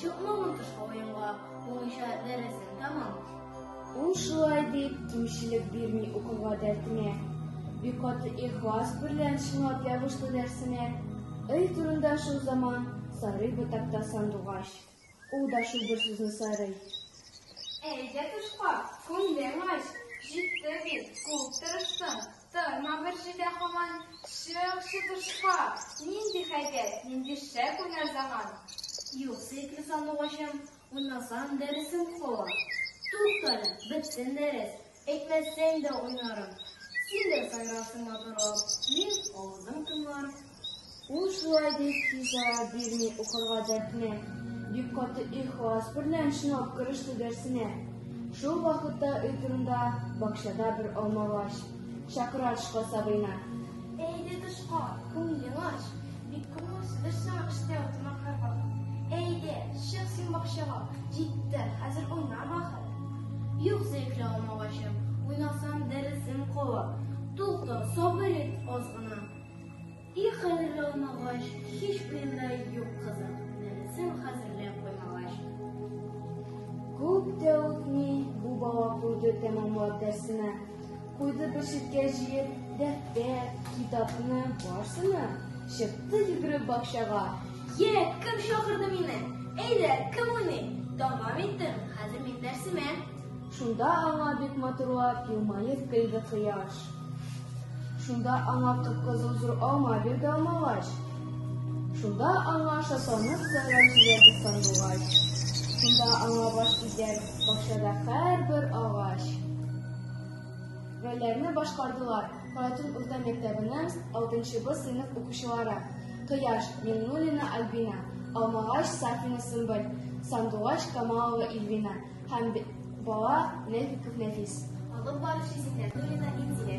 Чыкмаган тышка уенга, буенча дәресен тәмам. Ул шулай дип кимчелек бирми укуга дәртенә. Бик каты ихлас берлән чынлап ябышты дәрсенә. Ый турында шул заман сарый ботакта сандугач. Ул да шул бер сүзне сарый. Әйдә тышка, күңлең ач, җитте бит, күп тырыштың. Торма бер җирдә һаман, Чык, чыбышка! Нинди хәйбәт, нинди шәп уйнар заман! Юкса ике сандугачым, Уйнасам, дәресем кала. Тукта әле, бетсен дәрес, Әйтмәсәң дә уйнарым. Син дә сайрарсың матурлап, Мин авызым томларып. Ул шулай дип тиз ара бирми укырга дәртне. Бик каты ихлас берлән чынлап кереште дәрсенә. Шул вакытта өй турында бакчада бер алмагач, чакыра тышка сабыйны. Әйдә тышка, күңелең ач, бик күңелсездер сиңа эштә утырмак һәрвакыт. Әйдә, чык син бакчага, җитте, хәзер уйнама хәл. Юк, зәйфле алмагачым, уйнасам дәресем кала. Тукта, сабыр ит аз гына. И хәзерге алмагач, һич уенда юк кызым, нәрсәм хәзерләп куймагач. Күп тә үтми, бу бала куйды тәмамлап дәрсенә. Куйды бер читкә җыеп, дәфтәр, китапны, барсына. Чыкты йөгереп бакчага. Йә, кем чакырды мине? Әйдә, кем уйный? Тәмам иттем, хәзер мин дәрсемә. Шунда аңа бик матурлап елмаеп көлде кояш. Шунда аңа кып-кызыл зур алма бирде алмагач. Шунда аңа шатланып сайрап җибәрде сандугач. Шунда аңа баш игән бакчада һәрбер агач. Рольләрне башкардылар Каратун урта мәктәбенең 6 Б сыйныф укучылары. Кояш Миңнуллина Альбина, Алмагач Сафина Сымбыл, Сандугач Камалова Ильвина. Һәм бала нәфи күп нәфис. Алып баручы Зиннәтуллина Индия.